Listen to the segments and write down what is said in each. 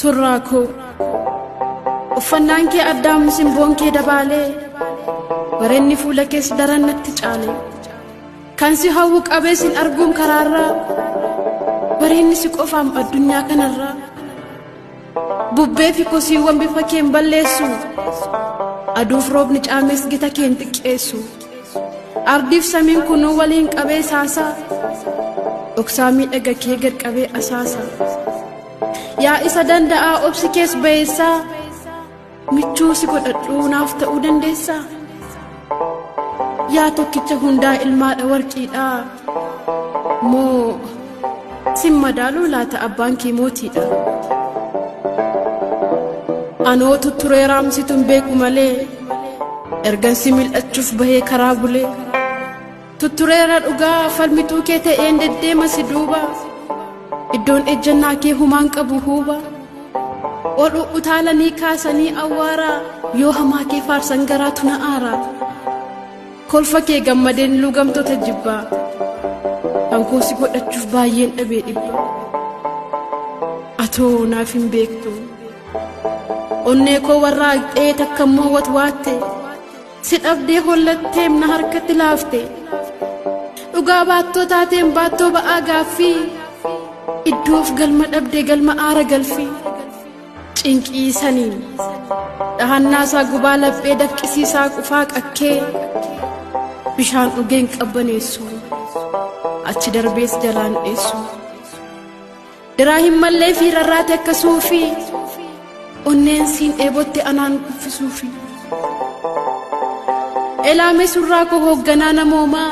Surraa koo uffannaan kee addaam simboon kee dabaalee barenni fuula kees daran natti caale kan si hawwu qabee sin arguun karaarraa bareenni si qofaam addunyaa kanarraa bubbee fi kosiiwwan bifa keen balleessu aduuf roobni caamees gita keen xiqqeessu. Ardiif samiin kunuu waliin qabee saasaa Dhoksaa miidhaga kee gad qabee asaasa Yaa isa danda'aa obsi kees bayeessaa Michuu si godhadhuu naaf ta'uu dandeessaa Yaa tokkicha hundaa ilmaadha warqiidhaa Moo sin madaaluu laata abbaan kee mootiidha. Anoo tutturee raamsituun beeku malee ergan si mil'achuuf bahee karaa bulee tuttureera dhugaa falmituu kee ta'een deddeema si duuba iddoon ejjannaa kee humaan qabu huuba odhu utaalanii kaasanii awwaaraa yoo hamaa kee faarsan garaatu na aaraa. kolfa kee gammadeen luugamtoota jibbaa kan koo si godhachuuf baay'een dhabee dhibba atoo naaf hin beektu onnee koo warra haqxee takka immoo watwaatte si dhabdee hollattee na harkatti laafte dhugaa baattoo taateen baattoo ba'aa gaaffii iddoof galma dhabdee galma aara galfii. cinqii saniin dhahannaa isaa gubaa laphee dafqisiisaa qufaa qakkee bishaan dhugeen qabbaneessu achi darbees jalaan dheessu diraa hin mallee fi rarraate akka suufi onneen siin dheebotte anaan kuffisuufi elaame surraa koo hoogganaa namoomaa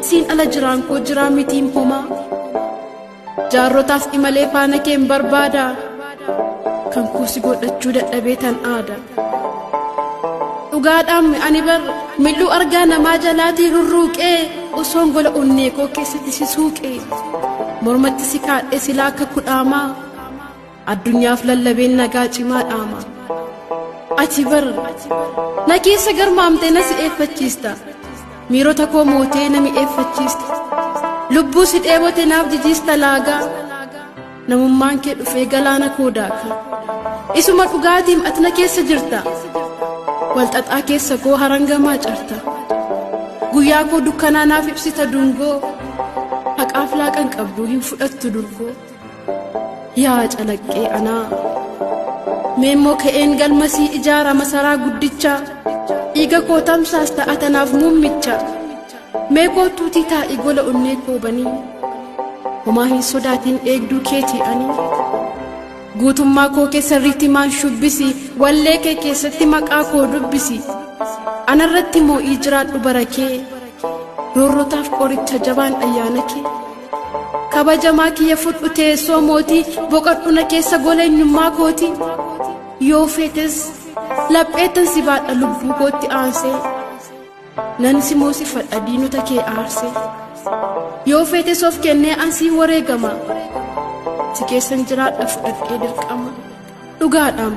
siin ala jiraan koo jiraa mitiin homaa Jaarrotaaf imalee faana keen barbaada kan kuusi godhachuu dadhabee tan aada. Dhugaadhaan ani bar mil'uu argaa namaa jalaatii rurruuqee osoon gola onnee koo keessatti si suuqee mormatti si kaadhee silaa akka kudhaamaa. Addunyaaf lallabeen nagaa cimaa dhaama. Ati bar na keessa garmaamtee na si'eeffachiista. Miirota koo mootee na mi'eeffachiista. Lubbuu si dheebote naaf jijiista laagaa. Namummaan kee dhufee galaana koo daaka. Isuma dhugaatiin ati na keessa jirta. Walxaxaa keessa koo harangamaa carta. Guyyaa koo dukkanaa naaf ibsita dungoo. Haqaaf laaqan qabdu hin fudhattu durgoo. Yaa calaqqee anaa mee immoo ka'een galmasii ijaara masaraa guddicha dhiiga koo tamsaasta atanaaf muummicha mee kootuutii taa'i gola onnee koo banii homaa hin sodaatiin eegduu keetii ani guutummaa koo keessa riitimaan shubbisi wallee kee keessatti maqaa koo dubbisi anarratti moo'ii jiraadhu bara kee roorrotaaf qoricha jabaan ayyaana kee. kabajamaa kiyya fudhu teessoo mootii boqadhuna keessa gola eenyummaa kooti yoo feetes lapheettan si baadha lubbuu kootti aansee nan si moosifadha diinota kee aarse yoo feetes of kennee ansii wareegama si keessan jiraadha fudhadhee dirqama dhugaadhaam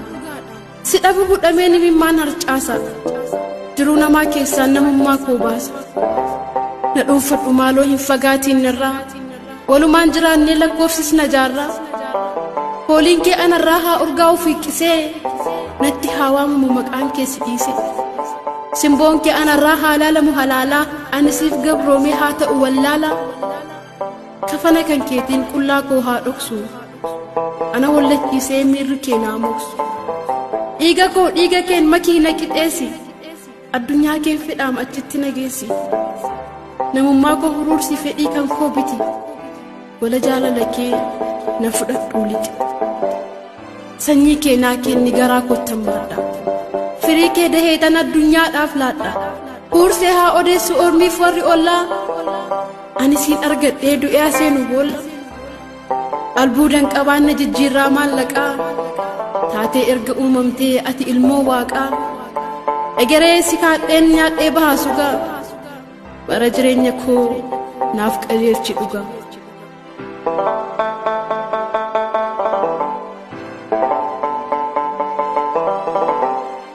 Si dhabu hudhameen imimmaan harcaasa. Jiruu namaa keessaan namummaa koo baasa. Na dhuunfadhu maaloo hin fagaatiin narraa. Walumaan jiraannee lakkoofsisna jaarraa. Fooliin kee anarraa haa urgaa'u fiiqqisee. Natti haa waamamu maqaan kee si dhiise. Simboon kee anarraa haa laalamu halaalaa. Ani siif gabroomee haa ta'u wallaalaa. Kafana kan keetiin qullaa koo haa dhoksu. Ana wallachiisee miirri kee naa moksu. Dhiiga koo dhiiga keen makii na qixeessi. Addunyaa kee fedhaam achitti na geessi. Namummaa koo huruursi fedhii kan koo biti. Wala jaalala kee na fudhadhuu lixi. Sanyii kee naa kenni garaa koottan maadha. Firii kee daheetan addunyaadhaaf laadha. Huursee haa odeessu ormiif warri ollaa. Ani siin argadhee du'ee aseenu boolla albuudan qabaanna jijjiirraa maallaqaa taatee erga uumamtee ati ilmoo waaqaa egeree si kaadheen nyaadhee baha sugaa bara jireenya koo naaf qajeelchi dhugaa.